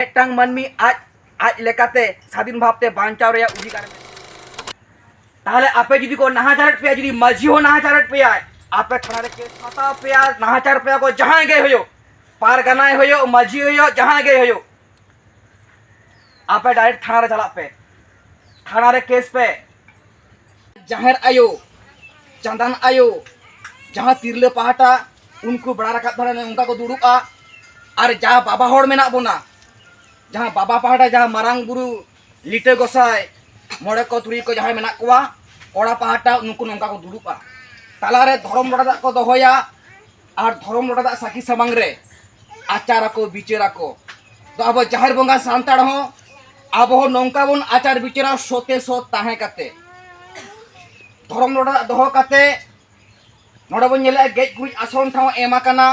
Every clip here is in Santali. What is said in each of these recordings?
ᱢᱤᱫᱴᱟᱝ ᱢᱟᱹᱱᱢᱤ ᱟᱡ ᱟᱡ ᱞᱮᱠᱟᱛᱮ ᱥᱟᱫᱷᱤᱱ ᱵᱷᱟᱵᱛᱮ ᱵᱟᱧᱪᱟᱣ ᱨᱮᱭᱟᱜ ᱚᱫᱷᱤᱠᱟᱨ ᱛᱟᱦᱚᱞᱮ ᱟᱯᱮ ᱡᱩᱫᱤ ᱠᱚ ᱱᱟᱦᱟᱪᱟᱨᱮᱫ ᱯᱮᱭᱟ ᱡᱩᱫᱤ ᱢᱟᱹᱡᱷᱤ ᱦᱚᱸ ᱱᱟᱦᱟᱪᱟᱨᱮᱫ ᱯᱮᱭᱟᱭ ᱟᱯᱮ ᱛᱷᱟᱱᱟ ᱨᱮ ᱠᱮᱥ ᱦᱟᱛᱟᱣ ᱯᱮᱭᱟ ᱱᱟᱦᱟᱪᱟᱨ ᱯᱮᱭᱟ ᱠᱚ ᱡᱟᱦᱟᱸᱭ ᱜᱮ ᱦᱩᱭᱩᱜ ᱯᱟᱨᱜᱟᱱᱟᱭ ᱦᱩᱭᱩᱜ ᱢᱟᱹᱡᱷᱤ ᱦᱩᱭᱩᱜ ᱡᱟᱦᱟᱸᱭ ᱜᱮ ᱦᱩᱭᱩᱜ ᱟᱯᱮ ᱰᱟᱭᱨᱮᱠᱴ ᱛᱷᱟᱱᱟ ᱨᱮ ᱪᱟᱞᱟᱜ ᱯᱮ ᱛᱷᱟᱱᱟ ᱨᱮ ᱠᱮᱥ ᱯᱮ ᱡᱟᱦᱮᱨ ᱟᱭᱳ ᱪᱟᱸᱫᱟᱱ ᱟᱭᱳ ᱡᱟᱦᱟᱸ ᱛᱤᱨᱞᱟᱹ ᱯᱟᱦᱴᱟ ᱩᱱᱠᱩ ᱵᱟᱲᱟ ᱨᱟᱠᱟᱵ ᱫᱷᱟᱨᱮ ᱚᱱᱠᱟ ᱠᱚ ᱫᱩᱲᱩᱵᱼᱟ ᱟᱨ ᱡᱟᱦᱟᱸ ᱵᱟᱵᱟ ᱦᱚᱲ ᱢᱮᱱᱟᱜ ᱵᱚᱱᱟ ᱡᱟᱦᱟᱸ ᱵᱟᱵᱟ ᱯᱟᱦᱴᱟ ᱡᱟᱦᱟᱸ ᱢᱟᱨᱟᱝ ᱵᱩᱨᱩ ᱞᱤᱴᱟᱹ ᱜᱚᱥᱟᱭ ᱢᱚᱬᱮ ᱠᱚ ᱛᱩᱨᱩᱭ ᱠᱚ ᱡᱟᱦᱟᱸᱭ ᱢᱮᱱᱟᱜ ᱠᱚᱣᱟ ᱠᱚᱲᱟ ᱯᱟᱦᱴᱟ ᱩᱱᱠᱩ ᱱᱚᱝᱠᱟ ᱠᱚ ᱫᱩᱲᱩᱵᱼᱟ ᱛᱟᱞᱟᱨᱮ ᱫᱷᱚᱨᱚᱢ ᱵᱟᱲᱟ ᱫᱟᱜ ᱠᱚ ᱫᱚᱦᱚᱭᱟ ᱟᱨ ᱫᱷᱚᱨᱚᱢ ᱞᱚᱰᱟ ᱫᱟᱜ ᱥᱟᱹᱠᱷᱤ ᱥᱟᱢᱟᱝ ᱨᱮ ᱟᱪᱟᱨ ᱟᱠᱚ ᱵᱤᱪᱟᱹᱨ ᱟᱠᱚ ᱛᱚ ᱟᱵᱚ ᱡᱟᱦᱮᱨ ᱵᱚᱸᱜᱟ ᱥᱟᱱᱛᱟᱲ ᱦᱚᱸ ᱟᱵᱚ ᱦᱚᱸ ᱱᱚᱝᱠᱟ ᱵᱚᱱ ᱟᱪᱟᱨ ᱵᱤᱪᱟᱹᱨᱟ ᱥᱚᱛᱮ ᱥᱚᱛ ᱛᱟᱦᱮᱸ ᱠᱟᱛᱮ ᱫᱷᱚᱨᱚᱢ ᱞᱚᱰᱟ ᱫᱟᱜ ᱫᱚᱦᱚ ᱠᱟᱛᱮ ᱱᱚᱰᱮ ᱵᱚᱱ ᱧᱮᱞᱮᱜᱼᱟ ᱜᱮᱡ ᱜᱩᱨᱤᱡ ᱟᱥᱚᱱ ᱴᱷᱟᱶ ᱮᱢ ᱟᱠᱟᱱᱟ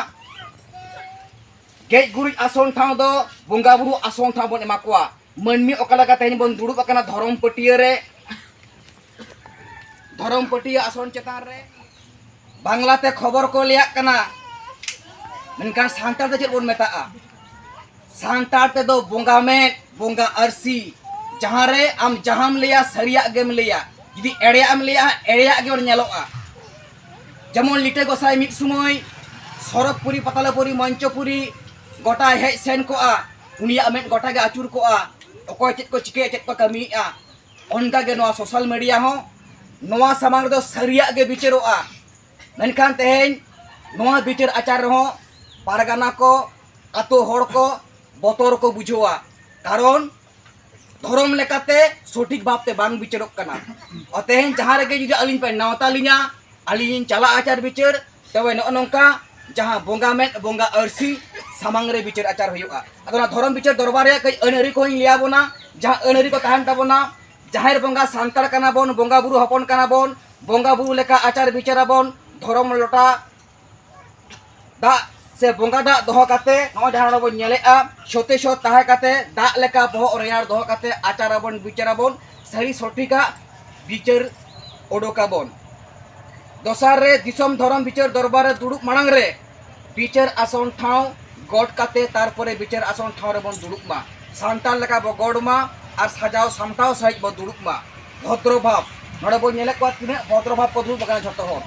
ᱜᱮᱡ ᱜᱩᱨᱤᱡ ᱟᱥᱚᱱ ᱴᱷᱟᱶ ᱫᱚ ᱵᱚᱸᱜᱟ ᱵᱩᱨᱩ ᱟᱥᱚᱱ ᱴᱷᱟᱶ ᱵᱚᱱ ᱮᱢᱟ ᱠᱚᱣᱟ ᱢᱟᱹᱱᱢᱤ ᱚᱠᱟ ᱞᱮᱠᱟ ᱛᱮᱦᱮᱧ ᱵᱚᱱ ᱫᱩᱲᱩᱵ ᱟᱠᱟᱱᱟ ᱫᱷᱚᱨᱚᱢ ᱯᱟᱹᱴᱭᱟᱹ ᱨᱮ ᱫᱷᱚᱨᱚᱢ ᱯᱟᱹᱴᱭᱟᱹ ᱟᱥᱚᱱ ᱪᱮᱛᱟᱱ ᱨᱮ ᱵᱟᱝᱞᱟ ᱛᱮ ᱠᱷᱚᱵᱚᱨ ᱠᱚ ᱞᱟᱹᱭᱟᱜ ᱠᱟᱱᱟ ᱢᱮᱱᱠᱷᱟᱱ ᱥᱟᱱᱛᱟᱲ ᱛᱮ ᱪᱮᱫ ᱵᱚᱱ ᱢᱮᱛᱟᱜᱼᱟ ᱥᱟᱱᱛᱟᱲ ᱛᱮᱫᱚ ᱵᱚᱸᱜᱟ ᱢᱮᱫ ᱵᱚᱸᱜᱟ ᱟᱹᱨᱥᱤ ᱡᱟᱦᱟᱸ ᱨᱮ ᱟᱢ ᱡᱟᱦᱟᱸᱢ ᱞᱟᱹᱭᱟ ᱥᱟᱹᱨᱤᱭᱟᱜ ᱜᱮᱢ ᱞᱟᱹᱭᱟ ᱡᱩᱫᱤ ᱮᱲᱮᱭᱟᱜ ᱮᱢ ᱞᱟᱹᱭᱟ ᱮᱲᱮᱭᱟᱜ ᱜᱮ ᱧᱮᱞᱚᱜᱼᱟ ᱡᱮᱢᱚᱱ ᱞᱤᱴᱟᱹ ᱜᱚᱥᱟᱭ ᱢᱤᱫ ᱥᱚᱢᱚᱭ ᱥᱚᱨᱚᱜᱽᱯᱩᱨᱤ ᱯᱟᱛᱟᱞᱟᱯᱩᱨᱤ ᱢᱚᱧᱪᱚᱯᱩᱨᱤ ᱜᱚᱴᱟᱭ ᱦᱮᱡ ᱥᱮᱱ ᱠᱚᱜᱼᱟ ᱩᱱᱤᱭᱟᱜ ᱢᱮᱫ ᱜᱚᱴᱟ ᱜᱮ ᱟᱹᱪᱩᱨ ᱠᱚᱜᱼᱟ ᱚᱠᱚᱭ ᱪᱮᱫ ᱠᱚ ᱪᱤᱠᱟᱹᱭᱟ ᱪᱮᱫ ᱠᱚ ᱠᱟᱹᱢᱤᱭᱮᱫᱼᱟ ᱚᱱᱠᱟ ᱜᱮ ᱱᱚᱣᱟ ᱥᱳᱥᱟᱞ ᱢᱤᱰᱤᱭᱟ ᱦᱚᱸ ᱱᱚᱣᱟ ᱥᱟᱢᱟᱝ ᱨᱮᱫᱚ ᱥᱟᱹᱨᱤᱭᱟᱜ ᱜᱮ ᱵᱤᱪᱟᱹᱨᱚᱜᱼᱟ ᱢᱮᱱᱠᱷᱟᱱ ᱛᱮᱦᱮᱧ ᱱᱚᱣᱟ ᱵᱤᱪᱟᱹᱨ ᱟᱪᱟᱨ ᱨᱮᱦᱚᱸ ᱯᱟᱨᱜᱟᱱᱟ ᱠᱚ ᱟᱛᱳ ᱦᱚᱲ ᱠᱚ ᱵᱚᱛᱚᱨ ᱠᱚ ᱵᱩᱡᱷᱟᱹᱣᱟ ᱠᱟᱨᱚᱱ ᱫᱷᱚᱨᱚᱢ ᱞᱮᱠᱟᱛᱮ ᱥᱚᱴᱷᱤᱠ ᱵᱷᱟᱵᱛᱮ ᱵᱟᱝ ᱵᱤᱪᱟᱹᱨᱚᱜ ᱠᱟᱱᱟ ᱛᱮᱦᱮᱧ ᱡᱟᱦᱟᱸ ᱨᱮᱜᱮ ᱡᱩᱫᱤ ᱟᱹᱞᱤᱧ ᱯᱮ ᱱᱮᱣᱛᱟ ᱞᱤᱧᱟ ᱟᱹᱞᱤᱧ ᱞᱤᱧ ᱪᱟᱞᱟᱜᱼᱟ ᱟᱪᱟᱨ ᱵᱤᱪᱟᱹᱨ ᱛᱚᱵᱮ ᱱᱚᱜᱼᱚ ᱱᱚᱝᱠᱟ ᱡᱟᱦᱟᱸ ᱵᱚᱸᱜᱟ ᱢᱮᱫ ᱵᱚᱸᱜᱟ ᱟᱹᱨᱥᱤ ᱥᱟᱢᱟᱝ ᱨᱮ ᱵᱤᱪᱟᱹᱨ ᱟᱪᱟᱨ ᱦᱩᱭᱩᱜᱼᱟ ᱟᱫᱚ ᱚᱱᱟ ᱫᱷᱚᱨᱚᱢ ᱵᱤᱪᱟᱹᱨ ᱫᱚᱨᱵᱟᱨ ᱨᱮᱭᱟᱜ ᱠᱟᱹᱡ ᱟᱹᱱᱟᱹᱨᱤ ᱠᱚᱧ ᱞᱟᱹᱭᱟ ᱵᱚᱱᱟ ᱡᱟᱦᱟᱸ ᱟᱹᱱᱟᱹᱨᱤ ᱠᱚ ᱛᱟᱦᱮᱱ ᱛᱟᱵᱚᱱᱟ ᱡᱟᱦᱮᱨ ᱵᱚᱸᱜᱟ ᱥᱟᱱᱛᱟᱲ ᱠᱟᱱᱟ ᱵᱚᱱ ᱵᱚᱸᱜᱟ ᱵᱩᱨᱩ ᱦᱚᱯᱚᱱ ᱠᱟᱱᱟ ᱵᱚᱱ ᱵᱚᱸᱜᱟ ᱵᱩᱨᱩ ᱞᱮᱠᱟ ᱟᱪᱟᱨ ᱵᱤᱪᱟᱹᱨ ᱟᱵᱚᱱ ᱫᱷᱚᱨᱚᱢ ᱞᱚᱴᱟ ᱫᱟᱜ ᱥᱮ ᱵᱚᱸᱜᱟ ᱫᱟᱜ ᱫᱚᱦᱚ ᱠᱟᱛᱮ ᱱᱚᱜᱼᱚᱭ ᱡᱟᱦᱟᱸ ᱱᱚᱰᱮ ᱵᱚᱱ ᱧᱮᱞᱮᱜᱼᱟ ᱥᱚᱛᱮ ᱥᱚᱛ ᱛᱟᱦᱮᱸ ᱠᱟᱛᱮ ᱫᱟᱜ ᱞᱮᱠᱟ ᱵᱚᱦᱚᱜ ᱨᱮᱭᱟᱲ ᱫᱚᱦᱚ ᱠᱟᱛᱮ ᱟᱪᱟᱨ ᱟᱵᱚᱱ ᱵᱤᱪᱟᱹᱨ ᱟᱵᱚᱱ ᱥᱟᱹᱨᱤ ᱥᱚᱴᱷᱤᱠᱟᱜ ᱵᱤᱪᱟᱹᱨ ᱚᱰᱚᱠᱟᱵᱚᱱ ᱫᱚᱥᱟᱨ ᱨᱮ ᱫᱤᱥᱚᱢ ᱫᱷᱚᱨᱚᱢ ᱵᱤᱪᱟᱹᱨ ᱫᱚᱨᱵᱟᱨ ᱨᱮ ᱫᱩᱲᱩᱵ ᱢᱟᱲᱟᱝ ᱨᱮ ᱵᱤᱪᱟᱹᱨ ᱟᱥᱚᱱ ᱴᱷᱟᱶ ᱜᱚᱰ ᱠᱟᱛᱮ ᱛᱟᱨᱯᱚᱨᱮ ᱵᱤᱪᱟᱹᱨ ᱟᱥᱚᱱ ᱴᱷᱟᱶ ᱨᱮᱵᱚᱱ ᱫᱩᱲᱩᱵ ᱢᱟ ᱥᱟᱱᱛᱟᱲ ᱞᱮᱠᱟ ᱵᱚ ᱜᱚᱰ ᱢᱟ ᱟᱨ ᱥᱟᱡᱟᱣ ᱥᱟᱢᱴᱟᱣ ᱥᱟᱺᱦᱤᱡ ᱵᱚ ᱫᱩᱲᱩᱵ ᱢᱟ ᱵᱷᱚᱫᱨᱚ ᱵᱷᱟᱵᱽ ᱱᱚᱰᱮ ᱵᱚᱱ ᱧᱮᱞᱮᱫ ᱠᱚᱣᱟ ᱛᱤᱱᱟᱹᱜ ᱵᱷᱚᱫᱨᱚ ᱵᱷᱟᱵᱽ ᱠᱚ ᱫᱩᱲᱩᱵ ᱟᱠᱟᱱᱟ ᱡᱷᱚᱛᱚ ᱦᱚᱲ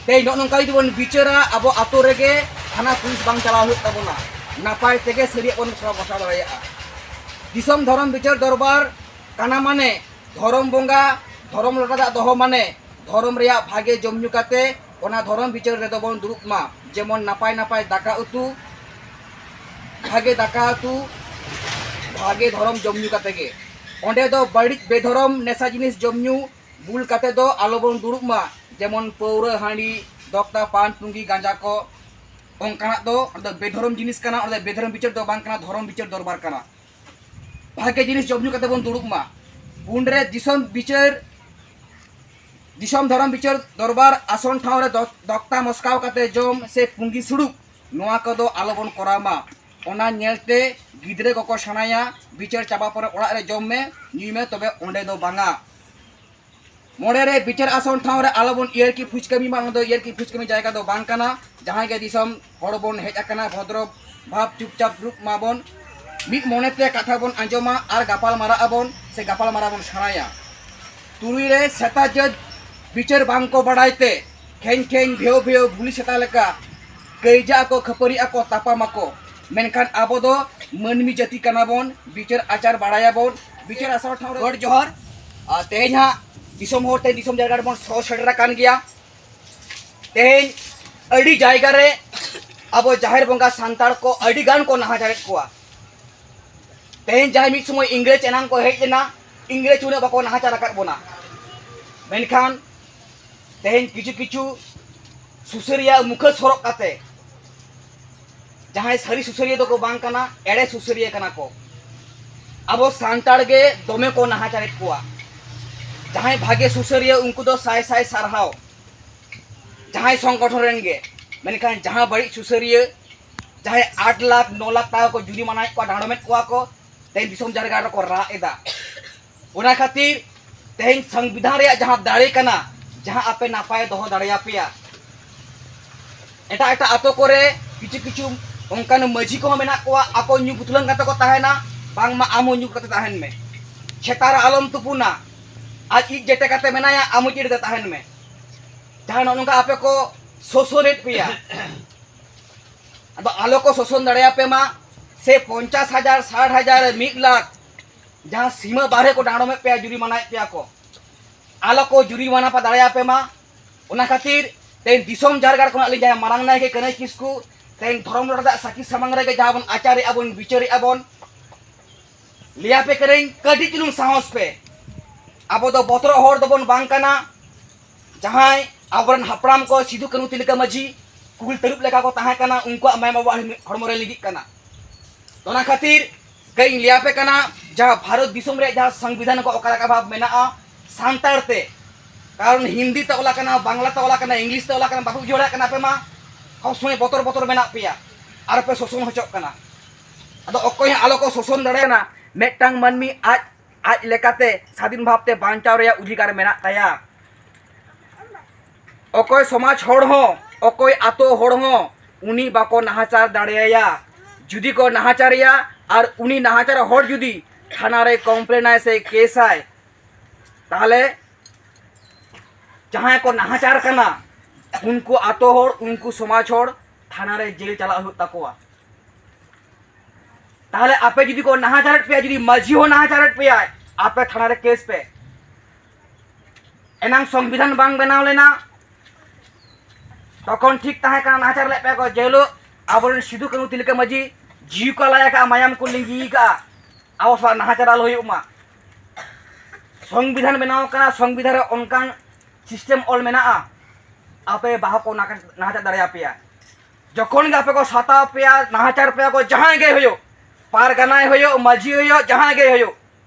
ᱛᱮᱦᱮᱧ ᱱᱚᱜᱼᱚ ᱱᱚᱝᱠᱟ ᱡᱩᱫᱤ ᱵᱚᱱ ᱵᱤᱪᱟᱹᱨᱟ ᱟᱵᱚ ᱟᱛᱳ ᱨᱮᱜᱮ ᱛᱷᱟᱱᱟ ᱯᱩᱞᱤᱥ ᱵᱟᱝ ᱪᱟᱞᱟᱣ ᱦᱩᱭᱩᱜ ᱛᱟᱵᱚᱱᱟ ᱱᱟᱯᱟᱭ ᱛᱮᱜᱮ ᱥᱟᱹᱨᱤᱭᱟᱜ ᱵᱚᱱ ᱵᱟᱥᱟᱣ ᱫᱟᱲᱮᱭᱟᱜᱼᱟ ᱫᱤᱥᱚᱢ ᱫᱷᱚᱨᱚᱢ ᱵᱤᱪᱟᱹᱨ ᱫᱚᱨᱵᱟᱨ ᱠᱟᱱᱟ ᱢᱟᱱᱮ ᱫᱷᱚᱨᱚᱢ ᱵᱚᱸᱜᱟ ᱫᱷᱚᱨᱚᱢ ᱞᱚᱴᱟ ᱫᱟᱜ ᱫᱚᱦᱚ ᱢᱟᱱᱮ ᱫᱷᱚᱨᱚᱢ ᱨᱮᱭᱟᱜ ᱵᱷᱟᱜᱮ ᱡᱚᱢ ᱧᱩ ᱠᱟᱛᱮ ᱚᱱᱟ ᱫᱷᱚᱨᱚᱢ ᱵᱤᱪᱟᱹᱨ ᱨᱮᱫᱚ ᱵᱚᱱ ᱫᱩᱲᱩᱵ ᱢᱟ ᱡᱮᱢᱚᱱ ᱱᱟᱯᱟᱭ ᱱᱟᱯᱟᱭ ᱫᱟᱠᱟ ᱩᱛᱩ ᱵᱷᱟᱜᱮ ᱫᱟᱠᱟ ᱩᱛᱩ ᱵᱷᱟᱜᱮ ᱫᱷᱚᱨᱚᱢ ᱡᱚᱢ ᱧᱩ ᱠᱟᱛᱮ ᱜᱮ ᱚᱸᱰᱮ ᱫᱚ ᱵᱟᱹᱲᱤᱡ ᱵᱮᱫᱷᱚᱨᱚᱢ ᱱᱮᱥᱟ ᱡᱤᱱᱤᱥ ᱡᱚᱢ ᱧᱩ ᱵᱩᱞ ᱠᱟᱛᱮ ᱫᱚ ᱟᱞᱚ ᱵᱚᱱ ᱫᱩᱲᱩᱵ ᱢᱟ ᱡᱮᱢᱚᱱ ᱯᱟᱹᱣᱨᱟᱹ ᱦᱟᱺᱰᱤ ᱫᱚᱠᱛᱟ ᱯᱟᱱ ᱯᱩᱸᱜᱤ ᱜᱟᱸᱡᱟ ᱠᱚ ᱚᱱᱠᱟᱱᱟᱜ ᱫᱚ ᱚᱸᱰᱮ ᱫᱚ ᱵᱮᱫᱷᱚᱨᱚᱢ ᱡᱤᱱᱤᱥ ᱠᱟᱱᱟ ᱚᱸᱰᱮ ᱫᱚ ᱵᱮᱫᱷᱚᱨᱚᱢ ᱵᱤᱪᱟᱹᱨ ᱫᱚ ᱵᱟᱝ ᱠᱟᱱᱟ ᱫᱷᱚᱨᱚᱢ ᱵᱤᱪᱟᱹᱨ ᱫᱚᱨᱵᱟᱨ ᱠᱟᱱᱟ ᱵᱷᱟᱜᱮ ᱡᱤᱱᱤᱥ ᱡᱚᱢ ᱧᱩ ᱠᱟᱛᱮ ᱵᱚᱱ ᱫᱩᱲᱩᱵ ᱢᱟ ᱩᱱᱨᱮ ᱫᱤᱥᱚᱢ ᱵᱤᱪᱟᱹᱨ ᱫᱤᱥᱚᱢ ᱫᱷᱚᱨᱚᱢ ᱵᱤᱪᱟᱹᱨ ᱫᱚᱨᱵᱟᱨ ᱟᱥᱚᱱ ᱴᱷᱟᱶ ᱨᱮ ᱫᱚᱠᱛᱟ ᱢᱚᱥᱠᱟᱣ ᱠᱟᱛᱮ ᱡᱚᱢ ᱥᱮ ᱯᱩᱸᱜᱤ ᱥᱩᱲᱩᱠ ᱱᱚᱣᱟ ᱠᱚᱫᱚ ᱟᱞᱚ ᱵᱚᱱ ᱠᱚᱨᱟᱣ ᱢᱟ ᱚᱱᱟ ᱧᱮᱞᱛᱮ ᱜᱤᱫᱽᱨᱟᱹ ᱠᱚᱠᱚ ᱥᱮᱬᱟᱭᱟ ᱵᱤᱪᱟᱹᱨ ᱪᱟᱵᱟ ᱯᱚᱨᱮ ᱚᱲᱟᱜ ᱨᱮ ᱡᱚᱢ ᱢᱮ ᱧᱩᱭ ᱢᱮ ᱛᱚᱵᱮ ᱚᱸᱰᱮ ᱫᱚ ᱵᱟᱝᱟ ᱢᱚᱬᱮ ᱨᱮ ᱵᱤᱪᱟᱨ ᱟᱥᱚᱱ ᱴᱷᱟᱶ ᱨᱮ ᱟᱞᱚ ᱵᱚᱱ ᱤᱭᱟᱹᱨ ᱠᱤ ᱯᱷᱩᱡᱽ ᱠᱟᱹᱢᱤ ᱢᱟ ᱚᱱᱟ ᱫᱚ ᱤᱭᱟᱹᱨ ᱠᱤ ᱯᱷᱩᱡᱽ ᱠᱟᱹᱢᱤ ᱡᱟᱭᱜᱟ ᱫᱚ ᱵᱟᱝ ᱠᱟᱱᱟ ᱡᱟᱦᱟᱸᱭ ᱜᱮ ᱫᱤᱥᱚᱢ ᱦᱚᱲ ᱵᱚᱱ ᱦᱮᱡ ᱟᱠᱟᱱᱟ ᱵᱷᱚᱫᱨᱚ ᱵᱷᱟᱵᱽ ᱪᱩᱯᱪᱟᱯ ᱫᱩᱲᱩᱵ ᱢᱟᱵᱚᱱ ᱢᱤᱫ ᱢᱚᱱᱮ ᱛᱮ ᱠᱟᱛᱷᱟ ᱵᱚᱱ ᱟᱸᱡᱚᱢᱟ ᱟᱨ ᱜᱟᱯᱟᱞ ᱢᱟᱨᱟᱜ ᱟᱵᱚᱱ ᱥᱮ ᱜᱟᱯᱟᱞ ᱢᱟᱨᱟᱜ ᱵᱚᱱ ᱥᱮᱬᱟᱭᱟ ᱛᱩᱨᱩᱭ ᱨᱮ ᱥᱮᱛᱟ ᱡᱟᱹᱛ ᱵᱤᱪᱟᱹᱨ ᱵᱟᱝ ᱠᱚ ᱵᱟᱲᱟᱭ ᱛᱮ ᱠᱷᱮᱧ ᱠᱷᱮᱧ ᱵᱷᱮᱣ ᱵᱷᱮᱣ ᱵᱷᱩᱞᱤ ᱥᱮᱛᱟ ᱞᱮᱠᱟ ᱠᱟᱹᱭᱡᱟ ᱟᱠᱚ ᱠᱷᱟᱹᱯᱟᱹᱨᱤ ᱟᱠᱚ ᱛᱟᱯᱟᱢ ᱟᱠᱚ ᱢᱮᱱᱠᱷᱟᱱ ᱟᱵᱚ ᱫᱚ ᱢᱟᱹᱱᱢᱤ ᱡᱟᱹᱛᱤ ᱠᱟᱱᱟ ᱵᱚᱱ ᱵᱤᱪᱟᱹᱨ ᱟᱪᱟᱨ ᱵᱟᱲᱟᱭᱟᱵᱚᱱ ᱵᱤᱪᱟᱹᱨ ᱟᱥᱟᱲ ᱴᱷᱟᱶ ᱜᱚᱰ ᱡᱚᱦᱟᱨ ᱟᱨ ᱛᱮᱦᱮᱧ ᱦᱟᱸᱜ ᱫᱤᱥᱚᱢ ᱦᱚᱲ ᱛᱮᱦᱮᱧ ᱫᱤᱥᱚᱢ ᱡᱟᱭᱜᱟ ᱨᱮᱵᱚᱱ ᱥᱚ ᱥᱮᱴᱮᱨ ᱟᱠᱟᱱ ᱜᱮᱭᱟ ᱛᱮᱦᱮᱧ ᱟᱹᱰᱤ ᱡᱟᱭᱜᱟ ᱨᱮ ᱟᱵᱚ ᱡᱟᱦᱮᱨ ᱵᱚᱸᱜᱟ ᱥᱟᱱᱛᱟᱲ ᱠᱚ ᱟᱹᱰᱤ ᱜᱟᱱ ᱠᱚ ᱱᱟᱦᱟᱪᱟᱨᱮᱫ ᱠᱚᱣᱟ ᱛᱮᱦᱮᱧ ᱡᱟᱦᱟᱸᱭ ᱢᱤᱫ ᱥᱚᱢᱚᱭ ᱤᱝᱨᱮᱡᱽ ᱮᱱᱟᱝ ᱠᱚ ᱦᱮᱡ ᱞᱮᱱᱟ ᱤᱝᱨᱮᱡᱽ ᱩᱱᱟᱹᱜ ᱵᱟᱠᱚ ᱱᱟᱦᱟᱪᱟᱨ ᱟᱠᱟᱫ ᱵᱚᱱᱟ ᱢᱮᱱᱠᱷᱟᱱ ᱛᱮᱦᱮᱧ ᱠᱤᱪᱷᱩ ᱠᱤᱪᱷᱩ ᱥᱩᱥᱟᱹᱨᱤᱭᱟᱹ ᱢᱩᱠᱷᱟᱹᱥ ᱦᱚᱨᱚᱜ ᱠᱟᱛᱮ ᱡᱟᱦᱟᱸᱭ ᱥᱟᱹᱨᱤ ᱥᱩᱥᱟᱹᱨᱤᱭᱟᱹ ᱫᱚᱠᱚ ᱵᱟᱝ ᱠᱟᱱᱟ ᱮᱲᱮ ᱥᱩᱥᱟᱹᱨᱤᱭᱟᱹ ᱠᱟᱱᱟ ᱠᱚ ᱟᱵᱚ ᱥᱟᱱᱛᱟᱲ ᱜᱮ ᱫᱚᱢᱮ ᱠᱚ ᱱᱟᱦᱟᱪᱟᱨᱮᱫ ᱠᱚᱣᱟ ᱡᱟᱦᱟᱸᱭ ᱵᱷᱟᱜᱮ ᱥᱩᱥᱟᱹᱨᱤᱭᱟᱹ ᱩᱱᱠᱩ ᱫᱚ ᱥᱟᱭ ᱥᱟᱭ ᱥᱟᱨᱦᱟᱣ ᱡᱟᱦᱟᱸᱭ ᱥᱚᱝᱜᱚᱴᱷᱚᱱ ᱨᱮᱱ ᱜᱮ ᱢᱮᱱᱠᱷᱟᱱ ᱡᱟᱦᱟᱸ ᱵᱟᱹᱲᱤᱡ ᱥᱩᱥᱟᱹᱨᱤᱭᱟᱹ ᱡᱟᱦᱟᱸᱭ ᱟᱴ ᱞᱟᱠᱷ ᱱᱚ ᱞᱟᱠᱷ ᱴᱟᱠᱟ ᱠᱚ ᱡᱩᱨᱤᱢᱟᱱᱟᱭᱮᱫ ᱠᱚᱣᱟ ᱰᱟᱸᱰᱚᱢᱮᱫ ᱠᱚᱣᱟ ᱠᱚ ᱛᱮᱦᱮᱧ ᱫᱤᱥᱚᱢ ᱡᱟᱨᱜᱟ ᱨᱮᱠᱚ ᱨᱟᱜ ᱮᱫᱟ ᱚᱱᱟ ᱠᱷᱟᱹᱛᱤᱨ ᱛᱮᱦᱮᱧ ᱥᱚᱝᱵᱤᱫᱷᱟᱱ ᱨᱮᱭᱟᱜ ᱡᱟᱦᱟᱸ ᱫᱟᱲᱮ ᱠᱟᱱᱟ ᱡᱟᱦᱟᱸ ᱟᱯᱮ ᱱᱟᱯᱟᱭ ᱫᱚᱦᱚ ᱫᱟᱲᱮᱭᱟᱯᱮᱭᱟ ᱮᱴᱟᱜ ᱮᱴᱟᱜ ᱟᱛᱳ ᱠᱚᱨᱮ ᱠᱤᱪᱷᱩ ᱠᱤᱪᱷᱩ ᱚᱱᱠᱟᱱ ᱢᱟᱹᱡᱷᱤ ᱠᱚᱦᱚᱸ ᱢᱮᱱᱟᱜ ᱠᱚᱣᱟ ᱟᱠᱚ ᱧᱩ ᱵᱩᱛᱞᱟᱹᱝ ᱠᱟᱛᱮ ᱠᱚ ᱛᱟᱦᱮᱱᱟ ᱵᱟᱝᱢᱟ ᱟᱢ ᱦᱚᱸ ᱧᱩ ᱠᱟᱛᱮ ᱛᱟᱦᱮᱱ ᱢᱮ ᱪᱷᱮᱛᱟ ᱨᱮ ᱟᱞᱚᱢ ᱛᱩᱯᱩᱱᱟ ᱟᱡ ᱤᱡ ᱡᱮᱴᱮ ᱠᱟᱛᱮ ᱢᱮᱱᱟᱭᱟ ᱟᱢ ᱦᱚᱸ ᱡᱮᱴᱮ ᱛᱟᱦᱮᱱ ᱢᱮ ᱡᱟᱦᱟᱸ ᱱᱚᱜᱼᱚ ᱱᱚᱝᱠᱟ ᱟᱯᱮ ᱠᱚ ᱥᱳᱥᱚᱱᱮᱫ ᱯᱮᱭᱟ ᱟᱫᱚ ᱟᱞᱚ ᱠᱚ ᱥᱳᱥᱚᱱ ᱫᱟᱲᱮᱭᱟᱯᱮ ᱢᱟ ᱥᱮ ᱯᱚᱧᱪᱟᱥ ᱦᱟᱡᱟᱨ ᱥᱟᱴ ᱦᱟᱡᱟᱨ ᱢᱤᱫ ᱞᱟᱠᱷ ᱡᱟᱦᱟᱸ ᱥᱤᱢᱟᱹ ᱵᱟᱨᱦᱮ ᱠᱚ ᱰᱟᱸᱰᱚᱢᱮᱫ ᱯᱮᱭᱟ ᱡᱩᱨᱤᱢᱟᱱᱟᱭᱮᱫ ᱯᱮᱭᱟ ᱠᱚ ᱟᱞᱚ ᱠᱚ ᱡᱩᱨᱤᱢᱟᱱᱟ ᱯᱮ ᱫᱟᱲᱮᱭᱟᱯᱮ ᱢᱟ ᱚᱱᱟ ᱠᱷᱟᱹᱛᱤᱨ ᱛᱮᱦᱮᱧ ᱫᱤᱥᱚᱢ ᱡᱟᱨᱜᱟᱲ ᱠᱷᱚᱱᱟᱜ ᱞᱤᱧ ᱡᱟᱦᱟᱸᱭ ᱢᱟᱨᱟᱝ ᱱᱟᱭᱠᱮ ᱠᱟᱹᱱᱟᱹᱭ ᱠᱤᱥᱠᱩ ᱛᱮᱦᱮᱧ ᱫᱷᱚᱨᱚᱢ ᱨᱚᱲ ᱫᱟᱜ ᱥᱟᱹᱠᱷᱤ ᱥᱟᱢᱟᱝ ᱨᱮᱜᱮ ᱡᱟᱦᱟᱸ ᱵᱚᱱ ᱟᱪᱟᱨᱮᱜᱼᱟ ᱵᱚᱱ ᱵᱤᱪᱟᱹᱨᱮᱜᱼᱟ ᱵᱚᱱ ᱞᱟᱹᱭᱟᱯᱮ ᱠᱟᱹᱱᱟᱹᱧ ᱠᱟᱹᱴᱤᱡ ᱪᱩᱞᱩᱝ ᱥᱟᱦᱚᱥ ᱯᱮ ᱟᱵᱚ ᱫᱚ ᱵᱚᱛᱚᱨᱚᱜ ᱦᱚᱲ ᱫᱚᱵᱚᱱ ᱵᱟᱝ ᱠᱟᱱᱟ ᱡᱟᱦᱟᱸᱭ ᱟᱵᱚᱨᱮᱱ ᱦᱟᱯᱲᱟᱢ ᱠᱚ ᱥᱤᱫᱩ ᱠᱟᱹᱱᱩ ᱛᱤᱞᱠᱟᱹ ᱢᱟᱹᱡᱷᱤ ᱠᱩᱞ ᱛᱟᱹᱨᱩᱵ ᱞᱮᱠᱟ ᱠᱚ ᱛᱟᱦᱮᱸ ᱠᱟᱱᱟ ᱩᱱᱠᱩᱣᱟᱜ ᱢᱟᱭᱟᱢ ᱟᱵᱚᱣᱟᱜ ᱦᱚᱲᱢᱚ ᱨᱮ ᱞᱤᱜᱤᱜ ᱠᱟᱱᱟ ᱚᱱᱟ ᱠᱷᱟᱹᱛᱤᱨ ᱠᱟᱹᱧ ᱞᱟᱹᱭᱟᱯᱮ ᱠᱟᱱᱟ ᱡᱟᱦᱟᱸ ᱵᱷᱟᱨᱚᱛ ᱫᱤᱥᱚᱢ ᱨᱮ ᱡᱟᱦᱟᱸ ᱥᱚᱝᱵᱤᱫᱷᱟᱱ ᱠᱚ ᱚᱠᱟ ᱞᱮᱠᱟ ᱵᱷᱟᱵ ᱢᱮᱱᱟᱜᱼᱟ ᱥᱟᱱᱛᱟᱲ ᱛᱮ ᱠᱟᱨᱚᱱ ᱦᱤᱱᱫᱤ ᱛᱮ ᱚᱞᱟ ᱠᱟᱱᱟ ᱵᱟᱝᱞᱟ ᱛᱮ ᱚᱞᱟ ᱠᱟᱱᱟ ᱤᱝᱞᱤᱥ ᱛᱮ ᱚᱞᱟ ᱠᱟᱱᱟ ᱵᱟᱯᱮ ᱵᱩᱡᱷᱟᱹᱣ ᱫᱟᱲᱮᱭᱟᱜ ᱠᱟᱱᱟ ᱟᱯᱮ ᱢᱟ ᱥᱚᱵ ᱥᱚᱢᱚᱭ ᱵᱚᱛᱚᱨ ᱵᱚᱛᱚᱨ ᱢᱮᱱᱟᱜ ᱯᱮᱭᱟ ᱟᱨ ᱯᱮ ᱥᱳᱥᱚᱱ ᱦᱚᱪᱚᱜ ᱠᱟᱱᱟ ᱟᱫᱚ ᱚᱠᱚᱭ ᱦᱚᱸ ᱟᱞᱚ ᱠᱚ ᱥᱳᱥᱚᱱ ᱫᱟᱲᱮᱭᱟᱱᱟ ᱢᱤᱫᱴᱟᱝ ᱢᱟᱹᱱᱢᱤ ᱟᱡ ᱟᱡ ᱞᱮᱠᱟᱛᱮ ᱥᱟᱫᱷᱤᱱ ᱵᱷᱟᱵᱛᱮ ᱵᱟᱧᱪᱟᱣ ᱨᱮᱭᱟᱜ ᱚᱫᱷᱤᱠᱟᱨ ᱢᱮᱱᱟᱜ ᱛᱟᱭᱟ ᱚᱠᱚᱭ ᱥᱚᱢᱟᱡᱽ ᱦᱚᱲ ᱦᱚᱸ ᱚᱠᱚᱭ ᱟᱛᱳ ᱦᱚᱲ ᱦᱚᱸ ᱩᱱᱤ ᱵᱟᱠᱚ ᱱᱟᱦᱟᱪᱟᱨ ᱫᱟᱲᱮᱭᱟᱭᱟ ᱡᱩᱫᱤ ᱠᱚ ᱱᱟᱦᱟᱪᱟᱨᱮᱭᱟ ᱟᱨ ᱩᱱᱤ ᱱᱟᱦᱟᱪᱟᱨ ᱦᱚᱲ ᱡᱩᱫᱤ ᱛᱷᱟᱱᱟ ᱨᱮ ᱠᱚᱢᱯᱞᱮᱱᱟᱭ ᱥᱮ ᱠᱮᱥᱟᱭ ᱛᱟᱦᱚᱞᱮ ᱡᱟᱦᱟᱸᱭ ᱠᱚ ᱱᱟᱦᱟᱪᱟᱨ ᱠᱟᱱᱟ ᱩᱱᱠᱩ ᱟᱛᱳ ᱦᱚᱲ ᱩᱱᱠᱩ ᱥᱚᱢᱟᱡᱽ ᱦᱚᱲ ᱛᱷᱟᱱᱟ ᱨᱮ ᱡᱮᱞ ᱪᱟᱞᱟᱜ ᱦᱩᱭᱩᱜ ᱛᱟᱠᱚᱣᱟ ᱛᱟᱦᱚᱞᱮ ᱟᱯᱮ ᱡᱩᱫᱤ ᱠᱚ ᱱᱟᱦᱟᱪᱟᱨᱮᱫ ᱯᱮᱭᱟ ᱡᱩᱫᱤ ᱢᱟᱹᱡᱷᱤ ᱦᱚᱸ ᱱᱟᱦᱟᱪᱟᱨᱮᱫ ᱯᱮᱭᱟᱭ ᱟᱯᱮ ᱛᱷᱟᱱᱟ ᱨᱮ ᱠᱮᱥ ᱯᱮ ᱮᱱᱟᱝ ᱥᱚᱝᱵᱤᱫᱷᱟᱱ ᱵᱟᱝ ᱵᱮᱱᱟᱣ ᱞᱮᱱᱟ ᱛᱚᱠᱷᱚᱱ ᱴᱷᱤᱠ ᱛᱟᱦᱮᱸ ᱠᱟᱱᱟ ᱱᱟᱦᱟᱪᱟᱨ ᱞᱮᱫ ᱯᱮᱭᱟ ᱠᱚ ᱡᱮᱦᱤᱞᱳᱜ ᱟᱵᱚᱨᱮᱱ ᱥᱤᱫᱩ ᱠᱟᱹᱱᱩ ᱛᱤᱞᱠᱟᱹ ᱢᱟᱹᱡᱷᱤ ᱡᱤᱣᱤ ᱠᱚ ᱟᱞᱟᱭ ᱟᱠᱟᱫᱼᱟ ᱢᱟᱭᱟᱢ ᱠᱚ ᱞᱤᱸᱜᱤ ᱟᱠᱟᱫᱼᱟ ᱟᱵᱚ ᱥᱟᱞᱟᱜ ᱱᱟᱦᱟᱪᱟᱨ ᱟᱞᱚ ᱦᱩᱭᱩᱜ ᱢᱟ ᱥᱚᱝᱵᱤᱫᱷᱟᱱ ᱵᱮᱱᱟᱣ ᱠᱟᱱᱟ ᱥᱚᱝᱵᱤᱫᱷᱟᱱ ᱨᱮ ᱚᱱᱠᱟᱱ ᱥᱤᱥᱴᱮᱢ ᱚᱞ ᱢᱮᱱᱟᱜᱼᱟ ᱟᱯᱮ ᱵᱟᱦᱟ ᱠᱚ ᱱᱟᱦᱟᱪᱟᱨ ᱫᱟᱲᱮᱭᱟᱯᱮᱭᱟ ᱡᱚᱠᱷᱚᱱ ᱜᱮ ᱟᱯᱮ ᱠᱚ ᱥᱟᱛᱟᱣ ᱯᱮᱭᱟ ᱱᱟᱦᱟᱪᱟᱨ ᱯᱮᱭᱟ ᱠᱚ ᱡᱟᱦᱟᱸᱭ ᱜᱮ ᱦᱩᱭᱩᱜ ᱯᱟᱨᱜᱟᱱᱟᱭ ᱦᱩᱭᱩᱜ ᱢᱟᱹᱡᱷᱤ ᱦᱩᱭᱩᱜ ᱡᱟᱦᱟᱸᱭ ᱜᱮ ᱦᱩᱭᱩᱜ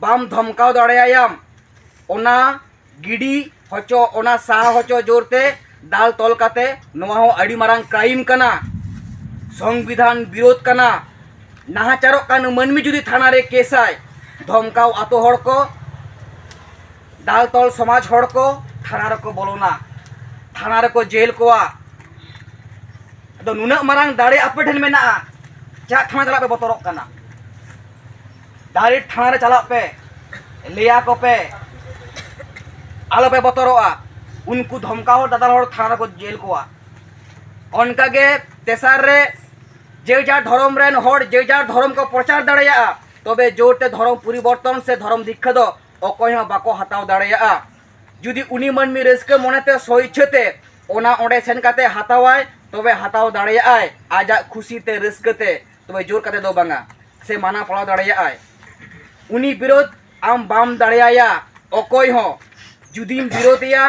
ᱵᱟᱢ ᱫᱷᱚᱢᱠᱟᱣ ᱫᱟᱲᱮᱭᱟᱭᱟᱢ ᱚᱱᱟ ᱜᱤᱰᱤ ᱦᱚᱪᱚ ᱚᱱᱟ ᱥᱟᱦᱟ ᱦᱚᱪᱚ ᱡᱳᱨᱛᱮ ᱫᱟᱞ ᱛᱚᱞ ᱠᱟᱛᱮ ᱱᱚᱣᱟ ᱦᱚᱸ ᱟᱹᱰᱤ ᱢᱟᱨᱟᱝ ᱠᱨᱟᱭᱤᱢ ᱠᱟᱱᱟ ᱥᱚᱝᱵᱤᱫᱷᱟᱱ ᱵᱤᱨᱳᱫᱷ ᱠᱟᱱᱟ ᱱᱟᱦᱟᱪᱟᱨᱚᱜ ᱠᱟᱱ ᱢᱟᱹᱱᱢᱤ ᱡᱩᱫᱤ ᱛᱷᱟᱱᱟ ᱨᱮ ᱠᱮᱥᱟᱭ ᱫᱷᱚᱢᱠᱟᱣ ᱟᱛᱳ ᱦᱚᱲ ᱠᱚ ᱫᱟᱞ ᱛᱚᱞ ᱥᱚᱢᱟᱡᱽ ᱦᱚᱲ ᱠᱚ ᱛᱷᱟᱱᱟ ᱨᱮᱠᱚ ᱵᱚᱞᱚᱱᱟ ᱛᱷᱟᱱᱟ ᱨᱮᱠᱚ ᱡᱮᱞ ᱠᱚᱣᱟ ᱟᱫᱚ ᱱᱩᱱᱟᱹᱜ ᱢᱟᱨᱟᱝ ᱫᱟᱲᱮ ᱟᱯᱮ ᱴᱷᱮᱱ ᱢᱮᱱᱟᱜᱼᱟ ᱪᱮᱫᱟᱜ ᱛᱷᱟᱱᱟ ᱪᱟᱞᱟᱜ ᱯᱮ ᱵᱚᱛᱚᱨᱚᱜ ᱠᱟᱱᱟ ᱰᱟᱭᱨᱮᱠᱴ ᱛᱷᱟᱱᱟ ᱨᱮ ᱪᱟᱞᱟᱜ ᱯᱮ ᱞᱟᱹᱭᱟ ᱠᱚ ᱯᱮ ᱟᱞᱚ ᱯᱮ ᱵᱚᱛᱚᱨᱚᱜᱼᱟ ᱩᱱᱠᱩ ᱫᱷᱚᱢᱠᱟᱣ ᱦᱚᱲ ᱫᱟᱫᱟᱞ ᱦᱚᱲ ᱛᱷᱟᱱᱟ ᱨᱮᱠᱚ ᱡᱮᱞ ᱠᱚᱣᱟ ᱚᱱᱠᱟ ᱜᱮ ᱛᱮᱥᱟᱨ ᱨᱮ ᱡᱮ ᱡᱟᱨ ᱫᱷᱚᱨᱚᱢ ᱨᱮᱱ ᱦᱚᱲ ᱡᱮ ᱡᱟᱨ ᱫᱷᱚᱨᱚᱢ ᱠᱚ ᱯᱨᱚᱪᱟᱨ ᱫᱟᱲᱮᱭᱟᱜᱼᱟ ᱛᱚᱵᱮ ᱡᱳᱨ ᱛᱮ ᱫᱷᱚᱨᱚᱢ ᱯᱚᱨᱤᱵᱚᱨᱛᱚᱱ ᱥᱮ ᱫᱷᱚᱨᱚᱢ ᱫᱤᱠᱠᱷᱟ ᱫᱚ ᱚᱠᱚᱭ ᱦᱚᱸ ᱵᱟᱠᱚ ᱦᱟᱛᱟᱣ ᱫᱟᱲᱮᱭᱟᱜᱼᱟ ᱡᱩᱫᱤ ᱩᱱᱤ ᱢᱟᱹᱱᱢᱤ ᱨᱟᱹᱥᱠᱟᱹ ᱢᱚᱱᱮᱛᱮ ᱥᱚᱭᱪᱷᱟᱹᱛᱮ ᱚᱱᱟ ᱚᱸᱰᱮ ᱥᱮᱱ ᱠᱟᱛᱮ ᱦᱟᱛᱟᱣᱟᱭ ᱛᱚᱵᱮ ᱦᱟᱛᱟᱣ ᱫᱟᱲᱮᱭᱟᱜᱼᱟᱭ ᱟᱡᱟᱜ ᱠᱷᱩᱥᱤᱛᱮ ᱨᱟᱹᱥᱠᱟᱹᱛᱮ ᱛᱚᱵᱮ ᱡᱳᱨ ᱠᱟᱛᱮ ᱫᱚ ᱵᱟᱝᱟ ᱥᱮ ᱢᱟᱱᱟ ᱯᱟᱲᱟᱣ ᱫᱟᱲᱮᱭᱟᱜᱼᱟᱭ ᱩᱱᱤ ᱵᱤᱨᱳᱫ ᱟᱢ ᱵᱟᱢ ᱫᱟᱲᱮᱭᱟᱭᱟ ᱚᱠᱚᱭ ᱦᱚᱸ ᱡᱩᱫᱤᱢ ᱵᱤᱨᱳᱫᱮᱭᱟ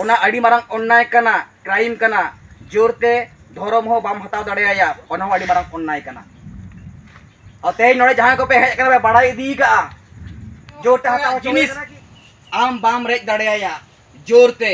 ᱚᱱᱟ ᱟᱹᱰᱤ ᱢᱟᱨᱟᱝ ᱚᱱᱱᱟᱭ ᱠᱟᱱᱟ ᱠᱨᱟᱭᱤᱢ ᱠᱟᱱᱟ ᱡᱳᱨᱛᱮ ᱫᱷᱚᱨᱚᱢ ᱦᱚᱸ ᱵᱟᱢ ᱦᱟᱛᱟᱣ ᱫᱟᱲᱮᱭᱟᱭᱟ ᱚᱱᱟ ᱦᱚᱸ ᱟᱹᱰᱤ ᱢᱟᱨᱟᱝ ᱚᱱᱱᱟᱭ ᱠᱟᱱᱟ ᱟᱨ ᱛᱮᱦᱮᱧ ᱱᱚᱰᱮ ᱡᱟᱦᱟᱸᱭ ᱠᱚᱯᱮ ᱦᱮᱡ ᱠᱟᱱᱟ ᱯᱮ ᱵᱟᱲᱟᱭ ᱤᱫᱤ ᱠᱟᱜᱼᱟ ᱡᱳᱨᱛᱮ ᱦᱟᱛᱟᱣ ᱡᱤᱱᱤᱥ ᱟᱢ ᱵᱟᱢ ᱨᱮᱡ ᱫᱟᱲᱮᱭᱟᱭᱟ ᱡᱳᱨᱛᱮ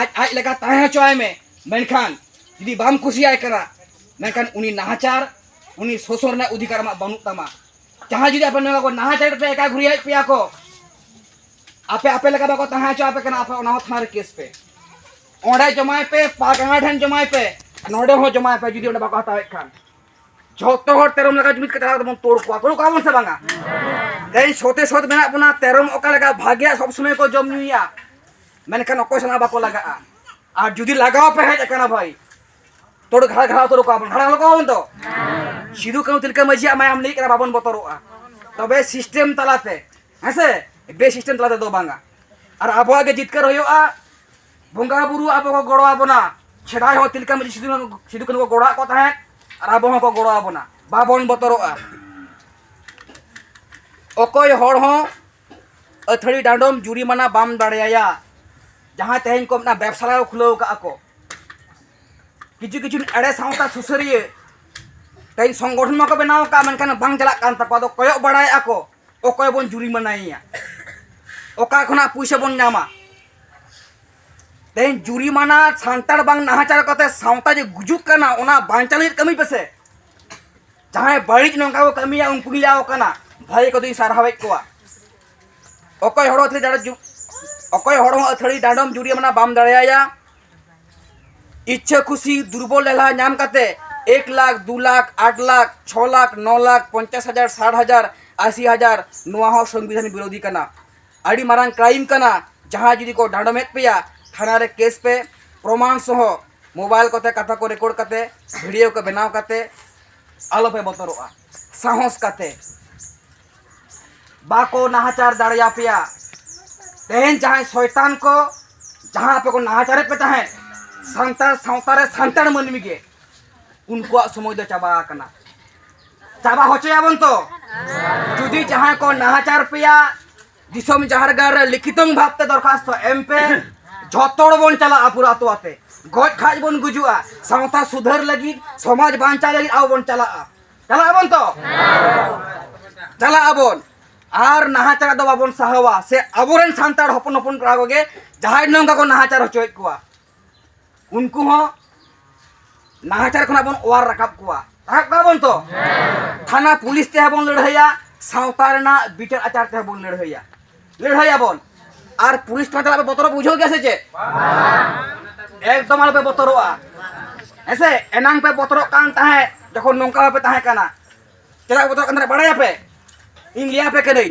ᱟᱡ ᱟᱡ ᱞᱮᱠᱟ ᱛᱟᱦᱮᱸ ᱦᱚᱪᱚᱭ ᱢᱮ ᱢᱮᱱᱠᱷᱟᱱ ᱡᱩᱫᱤ ᱵᱟᱢ ᱠᱩᱥᱤᱭᱟᱭ ᱠᱟᱱᱟ ᱢᱮᱱᱠᱷᱟᱱ ᱩᱱᱤ ᱱᱟᱦᱟᱪᱟᱨ ᱩᱱᱤ ᱥᱚᱥᱚᱨ ᱨᱮᱱᱟᱜ ᱚᱫᱷᱤᱠᱟᱨ ᱟᱢᱟᱜ ᱵᱟᱹᱱᱩᱜ ᱛᱟᱢᱟ ᱡᱟᱦᱟᱸ ᱡᱩᱫᱤ ᱟᱯᱮ ᱱᱚᱣᱟ ᱠᱚ ᱱᱟᱦᱟᱪᱟᱨ ᱯᱮ ᱮᱠᱟ ᱜᱷᱩᱨᱤᱭᱟᱭᱮᱫ ᱯᱮᱭᱟ ᱠᱚ ᱟᱯᱮ ᱟᱯᱮ ᱞᱮᱠᱟ ᱵᱟᱠᱚ ᱛᱟᱦᱮᱸ ᱦᱚᱪᱚ ᱟᱯᱮ ᱠᱟᱱᱟ ᱟᱯᱮ ᱚᱱᱟ ᱦᱚᱸ ᱛᱷᱟᱱᱟ ᱨᱮ ᱠᱮᱥ ᱯᱮ ᱚᱸᱰᱮ ᱡᱚᱢᱟᱭ ᱯᱮ ᱯᱟᱜᱟᱱᱟ ᱴᱷᱮᱱ ᱡᱚᱢᱟᱭ ᱯᱮ ᱱᱚᱰᱮ ᱦᱚᱸ ᱡᱚᱢᱟᱭ ᱯᱮ ᱡᱩᱫᱤ ᱚᱸᱰᱮ ᱵᱟᱠᱚ ᱦᱟᱛᱟᱣᱮᱫ ᱠᱷᱟᱱ ᱡᱚᱛᱚ ᱦᱚᱲ ᱛᱮᱨᱚᱢ ᱞᱮᱠᱟ ᱡᱩᱢᱤᱫ ᱠᱟᱛᱮ ᱟᱵᱚ ᱵᱚᱱ ᱛᱳᱲ ᱠᱚᱣᱟ ᱛᱳᱲ ᱠᱚᱣᱟ ᱵᱚᱱ ᱥᱮ ᱵᱟᱝᱟ ᱛᱮᱦᱮᱧ ᱥᱚᱛᱮ ᱥᱚᱛ ᱢᱮᱱᱟᱜ ᱵᱚᱱᱟ ᱛᱮᱨᱚᱢ ᱚᱠᱟ ᱞᱮᱠᱟ ᱵᱷᱟᱜᱮᱭᱟ ᱥᱚᱵ ᱥᱚᱢᱚᱭ ᱠᱚ ᱡᱚᱢ ᱧᱩᱭᱟ ᱢᱮᱱᱠᱷᱟᱱ ᱚᱠᱚᱭ ᱥᱟᱞᱟᱜ ᱵᱟᱠᱚ ᱞᱟᱜᱟᱜᱼᱟ ᱟᱨ ᱡᱩᱫᱤ ᱞᱟᱜᱟᱣ ᱯᱮ ᱦᱮᱡ ᱟᱠᱟᱱᱟ ᱵᱷᱟᱭ ᱛᱚᱲ ᱜᱷᱟᱲᱟ ᱜᱷᱟᱲᱟ ᱩᱛᱟᱹᱨ ᱠᱚᱣᱟ ᱵᱚᱱ ᱜᱷᱟᱲᱟ ᱠᱚᱣᱟ ᱵᱚᱱ ᱛᱚ ᱥᱤᱫᱩ ᱠᱟᱹᱱᱩ ᱛᱤᱞᱠᱟᱹ ᱢᱟᱹᱡᱷᱤᱭᱟᱜ ᱢᱟᱭᱟᱢ ᱞᱤᱸᱜᱤᱜ ᱠᱟᱱᱟ ᱵᱟᱵᱚᱱ ᱵᱚᱛᱚᱨᱚᱜᱼᱟ ᱛᱚᱵᱮ ᱥᱤᱥᱴᱮᱢ ᱛᱟᱞᱟᱛᱮ ᱦᱮᱸᱥᱮ ᱵᱮ ᱥᱤᱥᱴᱮᱢ ᱛᱟᱞᱟ ᱛᱮᱫᱚ ᱵᱟᱝᱟ ᱟᱨ ᱟᱵᱚᱣᱟᱜ ᱜᱮ ᱡᱤᱛᱠᱟᱹᱨ ᱦᱩᱭᱩᱜᱼᱟ ᱵᱚᱸᱜᱟ ᱵᱩᱨᱩ ᱟᱵᱚ ᱠᱚ ᱜᱚᱲᱚ ᱟᱵᱚᱱᱟ ᱥᱮᱫᱟᱭ ᱦᱚᱸ ᱛᱤᱞᱠᱟᱹ ᱢᱟᱹᱡᱷᱤ ᱥᱤᱫᱩ ᱥᱤᱫᱩ ᱠᱟᱹᱱᱩ ᱠᱚ ᱜᱚᱲᱚ ᱟᱫ ᱠᱚ ᱛᱟᱦᱮᱸᱫ ᱟᱨ ᱟᱵᱚ ᱦᱚᱸᱠᱚ ᱜᱚᱲᱚ ᱟᱵᱚᱱᱟ ᱵᱟᱵᱚᱱ ᱵᱚᱛᱚᱨᱚᱜᱼᱟ ᱚᱠᱚᱭ ᱦᱚᱲ ᱦᱚᱸ ᱟᱹᱛᱷᱟᱹᱲᱤ ᱰᱟᱸᱰᱚᱢ ᱡᱩᱨᱤᱢᱟᱱᱟ ᱵᱟᱢ ᱫᱟᱲᱮᱭᱟᱭᱟ ᱡᱟᱦᱟᱸᱭ ᱛᱮᱦᱮᱧ ᱠᱚ ᱢᱮᱱᱟ ᱵᱮᱵᱽᱥᱟ ᱠᱚ ᱠᱷᱩᱞᱟᱹᱣ ᱠᱟᱜᱼᱟ ᱠᱚ ᱠᱤᱪᱷᱩ ᱠᱤᱪᱷᱩ ᱮᱲᱮ ᱥᱟᱶᱛᱟ ᱥᱩᱥᱟᱹᱨᱤᱭᱟᱹ ᱛᱮᱦᱮᱧ ᱥᱚᱝᱜᱚᱴᱷᱚᱱ ᱢᱟᱠᱚ ᱵᱮᱱᱟᱣ ᱠᱟᱜᱼᱟ ᱢᱮᱱᱠᱷᱟᱱ ᱵᱟᱝ ᱪᱟᱞᱟᱜ ᱠᱟᱱ ᱛᱟᱠᱚᱣᱟ ᱟᱫᱚ ᱠᱚᱭᱚᱜ ᱵᱟᱲᱟᱭᱮᱜᱼᱟ ᱠᱚ ᱚᱠᱚᱭ ᱵᱚᱱ ᱡᱩᱨᱤᱢᱟᱱᱟᱭᱮᱭᱟ ᱚᱠᱟ ᱠᱷᱚᱱᱟᱜ ᱯᱩᱭᱥᱟᱹ ᱵᱚᱱ ᱧᱟᱢᱟ ᱛᱮᱦᱮᱧ ᱡᱩᱨᱤᱢᱟᱱᱟ ᱥᱟᱱᱛᱟᱲ ᱵᱟᱝ ᱱᱟᱦᱟᱪᱟᱨ ᱠᱟᱛᱮ ᱥᱟᱶᱛᱟ ᱡᱮ ᱜᱩᱡᱩᱜ ᱠᱟᱱᱟ ᱚᱱᱟ ᱵᱟᱧᱪᱟᱣ ᱞᱟᱹᱜᱤᱫ ᱠᱟᱹᱢᱤ ᱯᱮᱥᱮ ᱡᱟᱦᱟᱸᱭ ᱵᱟᱹᱲᱤᱡ ᱱᱚᱝᱠᱟ ᱠᱚ ᱠᱟᱹᱢᱤᱭᱟ ᱩᱱᱠᱩ ᱜᱮᱞᱮ ᱟᱣ ᱠᱟᱱᱟ ᱵᱷᱟᱹᱜᱤ ᱠᱚᱫᱚᱧ ᱥᱟᱨᱦᱟᱣᱮᱫ ᱠᱚᱣᱟ ᱚᱠᱚᱭ ᱦᱚᱲ ᱟᱹᱛᱷᱟᱹᱲᱤ ᱰᱟᱸᱰᱚᱢ ᱡᱩ ᱚᱠᱚᱭ ᱦᱚᱲ ᱦᱚᱸ ᱟᱹᱛᱷᱟᱹᱲᱤ ᱰᱟᱸᱰᱚᱢ ᱡᱩᱨᱤ ᱢᱟᱱᱟ ᱵᱟᱢ ᱫᱟᱲᱮᱭᱟᱭᱟ ᱤᱪᱪᱷᱟᱹ ᱠᱷᱩᱥᱤ ᱫᱩᱨᱵᱚᱞ ᱞᱮᱞᱦᱟ ᱧᱟᱢ ᱠᱟᱛᱮ ᱮᱠ ᱞᱟᱠᱷ ᱫᱩ ᱞᱟᱠᱷ ᱟᱴ ᱞᱟᱠᱷ ᱪᱷᱚ ᱞᱟᱠᱷ ᱱᱚ ᱞᱟᱠᱷ ᱯᱚᱧᱪᱟᱥ ᱦᱟᱡᱟᱨ ᱥᱟᱴ ᱦᱟᱡᱟᱨ ᱟᱥᱤ ᱦᱟᱡᱟᱨ ᱱᱚᱣᱟ ᱦᱚᱸ ᱥᱚᱝᱵᱤᱫᱷᱟᱱ ᱵᱤᱨᱳᱫᱷᱤ ᱠᱟᱱᱟ ᱟᱹᱰᱤ ᱢᱟᱨᱟᱝ ᱠᱨᱟᱭᱤᱢ ᱠᱟᱱᱟ ᱡᱟᱦᱟᱸᱭ ᱡᱩᱫᱤ ᱠᱚ ᱰᱟᱸᱰᱚᱢᱮᱫ ᱯᱮᱭᱟ ᱛᱷᱟᱱᱟ ᱨᱮ ᱠᱮᱥ ᱯᱮ ᱯᱨᱚᱢᱟᱱ ᱥᱚᱦᱚ ᱢᱳᱵᱟᱭᱤᱞ ᱠᱚᱛᱮ ᱠᱟᱛᱷᱟ ᱠᱚ ᱨᱮᱠᱳᱨᱰ ᱠᱟᱛᱮ ᱵᱷᱤᱰᱤᱭᱳ ᱠᱚ ᱵᱮᱱᱟᱣ ᱠᱟᱛᱮ ᱟᱞᱚ ᱯᱮ ᱵᱚᱛᱚᱨᱚᱜᱼᱟ ᱥᱟᱦᱚᱥ ᱠᱟᱛᱮ ᱵᱟᱠᱚ ᱱᱟᱦᱟᱪᱟᱨ ᱫᱟᱲᱮᱭᱟᱯᱮᱭᱟ ᱛᱮᱦᱮᱧ ᱡᱟᱦᱟᱸᱭ ᱥᱚᱭᱛᱟᱱ ᱠᱚ ᱡᱟᱦᱟᱸ ᱟᱯᱮ ᱠᱚ ᱱᱟᱦᱟᱪᱟᱨᱮᱫ ᱯᱮ ᱛᱟᱦᱮᱸᱫ ᱥᱟᱱᱛᱟᱲ ᱥᱟᱶᱛᱟ ᱨᱮ ᱥᱟᱱᱛᱟᱲ ᱢᱟᱹᱱᱢᱤ ᱜᱮ ᱩᱱᱠᱩᱣᱟᱜ ᱥᱚᱢᱚᱭ ᱫᱚ ᱪᱟᱵᱟ ᱟᱠᱟᱱᱟ ᱪᱟᱵᱟ ᱦᱚᱪᱚᱭᱟᱵᱚᱱ ᱛᱚ ᱡᱩᱫᱤ ᱡᱟᱦᱟᱸᱭ ᱠᱚ ᱱᱟᱦᱟᱪᱟᱨ ᱯᱮᱭᱟ ᱫᱤᱥᱚᱢ ᱡᱟᱦᱮᱨ ᱜᱟᱲ ᱨᱮ ᱞᱤᱠᱷᱤᱛᱚᱝ ᱵᱷᱟᱵᱛᱮ ᱫᱚᱨᱠᱷᱟᱥᱛᱚ ᱮᱢ ᱯᱮ ᱡᱷᱚᱛᱚ ᱦᱚᱲ ᱵᱚᱱ ᱪᱟᱞᱟᱜᱼᱟ ᱯᱩᱨᱟᱹ ᱟᱛᱳ ᱟᱛᱮ ᱜᱚᱡ ᱠᱷᱟᱡ ᱵᱚᱱ ᱜᱩᱡᱩᱜᱼᱟ ᱥᱟᱶᱛᱟ ᱥᱩᱫᱷᱟᱹᱨ ᱞᱟᱹᱜᱤᱫ ᱥᱚᱢᱟᱡᱽ ᱵᱟᱧᱪᱟᱣ ᱞᱟᱹᱜᱤᱫ ᱟᱵᱚ ᱵᱚᱱ ᱪᱟᱞᱟᱜᱼᱟ ᱪᱟᱞᱟᱜ ᱟᱵᱚᱱ ᱛᱚ ᱪᱟᱞᱟᱜ ᱟᱵᱚᱱ ᱟᱨ ᱱᱟᱦᱟᱪᱟᱨ ᱫᱚ ᱵᱟᱵᱚᱱ ᱥᱟᱦᱟᱣᱟ ᱥᱮ ᱟᱵᱚᱨᱮᱱ ᱥᱟᱱᱛᱟᱲ ᱦᱚᱯᱚᱱ ᱦᱚᱯᱚᱱ ᱠᱚᱲᱟ ᱠᱚᱜᱮ ᱡᱟᱦᱟᱸᱭ ᱱᱚᱝᱠᱟ ᱠᱚ ᱱᱟᱦᱟᱪᱟᱨ ᱦᱚᱪᱚᱭᱮᱫ ᱠᱚᱣᱟ ᱩᱱᱠᱩ ᱦᱚᱸ ᱱᱟᱦᱟᱪᱟᱨ ᱠᱷᱚᱱᱟᱜ ᱵᱚᱱ ᱚᱣᱟᱨ ᱨᱟᱠᱟᱵ ᱠᱚᱣᱟ ᱨᱟᱠᱟᱵ ᱠᱚᱣᱟ ᱵᱚᱱ ᱛᱚ ᱛᱷᱟᱱᱟ ᱯᱩᱞᱤᱥ ᱛᱮᱦᱚᱸ ᱵᱚᱱ ᱞᱟᱹᱲᱦᱟᱹᱭᱟ ᱥᱟᱶᱛᱟ ᱨᱮᱱᱟᱜ ᱵᱤᱪᱟᱨ ᱟᱪᱟᱨ ᱛᱮᱦᱚᱸ ᱵᱚᱱ ᱞᱟᱹᱲᱦᱟᱹᱭᱟ ᱞᱟᱹᱲᱦᱟᱹᱭᱟ ᱵᱚᱱ ᱟᱨ ᱯᱩᱞᱤᱥ ᱴᱷᱟᱶ ᱪᱟᱞᱟᱜ ᱵᱚᱛᱚᱨ ᱵᱩᱡᱷᱟᱹᱣ ᱜᱮᱭᱟ ᱥᱮ ᱪᱮᱫ ᱮᱠᱫᱚᱢ ᱟᱞᱚᱯᱮ ᱵᱚᱛᱚᱨᱚᱜᱼᱟ ᱦᱮᱸᱥᱮ ᱮᱱᱟᱝ ᱯᱮ ᱵᱚᱛᱚᱨᱚᱜ ᱠᱟᱱ ᱛᱟᱦᱮᱸᱫ ᱡᱚᱠᱷᱚᱱ ᱱᱚᱝᱠᱟ ᱵᱟᱯᱮ ᱛᱟᱦᱮᱸ ᱠᱟᱱᱟ ᱪᱮᱫᱟᱜ ᱵᱚᱛᱚᱨᱚᱜ ᱠᱟᱱ ᱛᱟᱦᱮᱸᱫ ᱵᱟᱲᱟᱭᱟᱯᱮ ᱤᱧ ᱞᱟᱹᱭᱟᱯᱮ ᱠᱟᱹᱱᱟᱹᱧ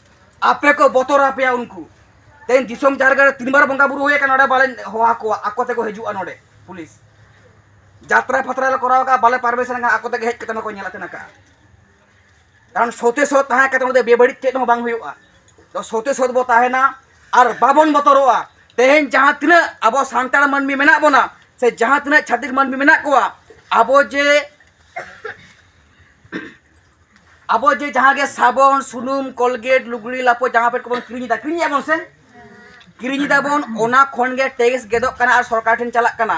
ᱟᱯᱮ ᱠᱚ ᱵᱚᱛᱚᱨ ᱟᱯᱮᱭᱟ ᱩᱱᱠᱩ ᱛᱮᱦᱮᱧ ᱫᱤᱥᱚᱢ ᱡᱟᱨᱜᱟ ᱨᱮ ᱛᱤᱱ ᱵᱟᱨ ᱵᱚᱸᱜᱟ ᱵᱩᱨᱩ ᱦᱩᱭ ᱟᱠᱟᱱᱟ ᱱᱚᱰᱮ ᱵᱟᱞᱮ ᱦᱚᱦᱚ ᱠᱚᱣᱟ ᱟᱠᱚ ᱛᱮᱠᱚ ᱦᱤᱡᱩᱜᱼᱟ ᱱᱚᱰᱮ ᱯᱩᱞᱤᱥ ᱡᱟᱛᱨᱟ ᱯᱷᱟᱛᱨᱟ ᱞᱮ ᱠᱚᱨᱟᱣ ᱠᱟᱜᱼᱟ ᱵᱟᱞᱮ ᱯᱟᱨᱢᱤᱥᱚᱱ ᱠᱟᱜᱼᱟ ᱟᱠᱚ ᱛᱮᱜᱮ ᱦᱮᱡ ᱠᱟᱛᱮ ᱱᱚᱠᱚ ᱧᱮᱞ ᱟᱛᱮᱱ ᱠᱟᱜᱼᱟ ᱠᱟᱨᱚᱱ ᱥᱚᱛᱮ ᱥᱚᱛ ᱛᱟᱦᱮᱸ ᱠᱟᱛᱮ ᱱᱚᱰᱮ ᱵᱮᱵᱟᱹᱲᱤᱡ ᱪᱮᱫ ᱦᱚᱸ ᱵᱟᱝ ᱦᱩᱭᱩᱜᱼᱟ ᱛᱚ ᱥᱚᱛᱮ ᱥᱚᱛ ᱵᱚ ᱛᱟᱦᱮᱱᱟ ᱟᱨ ᱵᱟᱵᱚᱱ ᱵᱚᱛᱚᱨᱚᱜᱼᱟ ᱛᱮᱦᱮᱧ ᱡᱟᱦᱟᱸ ᱛᱤᱱᱟᱹᱜ ᱟᱵᱚ ᱥᱟᱱᱛᱟᱲ ᱢᱟᱹᱱᱢᱤ ᱢᱮᱱᱟᱜ ᱵᱚᱱᱟ ᱥᱮ ᱡᱟᱦᱟᱸ ᱛᱤᱱᱟᱹᱜ ᱪᱷᱟᱹᱛᱤᱠ ᱢᱟᱹᱱᱢᱤ ᱢᱮᱱᱟᱜ ᱠᱚᱣᱟ ᱟᱵᱚ ᱡᱮ ᱟᱵᱚ ᱡᱮ ᱡᱟᱦᱟᱸ ᱜᱮ ᱥᱟᱵᱚᱱ ᱥᱩᱱᱩᱢ ᱠᱚᱞᱜᱮᱴ ᱞᱩᱜᱽᱲᱤ ᱞᱟᱯᱚ ᱡᱟᱦᱟᱸ ᱯᱮᱴ ᱠᱚᱵᱚᱱ ᱠᱤᱨᱤᱧ ᱮᱫᱟ ᱠᱤᱨᱤᱧ ᱮᱫᱟᱵᱚᱱ ᱥᱮ ᱠᱤᱨᱤᱧ ᱮᱫᱟᱵᱚᱱ ᱚᱱᱟ ᱠᱷᱚᱱ ᱜᱮ ᱴᱮᱠᱥ ᱜᱮᱫᱚᱜ ᱠᱟᱱᱟ ᱟᱨ ᱥᱚᱨᱠᱟᱨ ᱴᱷᱮᱱ ᱪᱟᱞᱟᱜ ᱠᱟᱱᱟ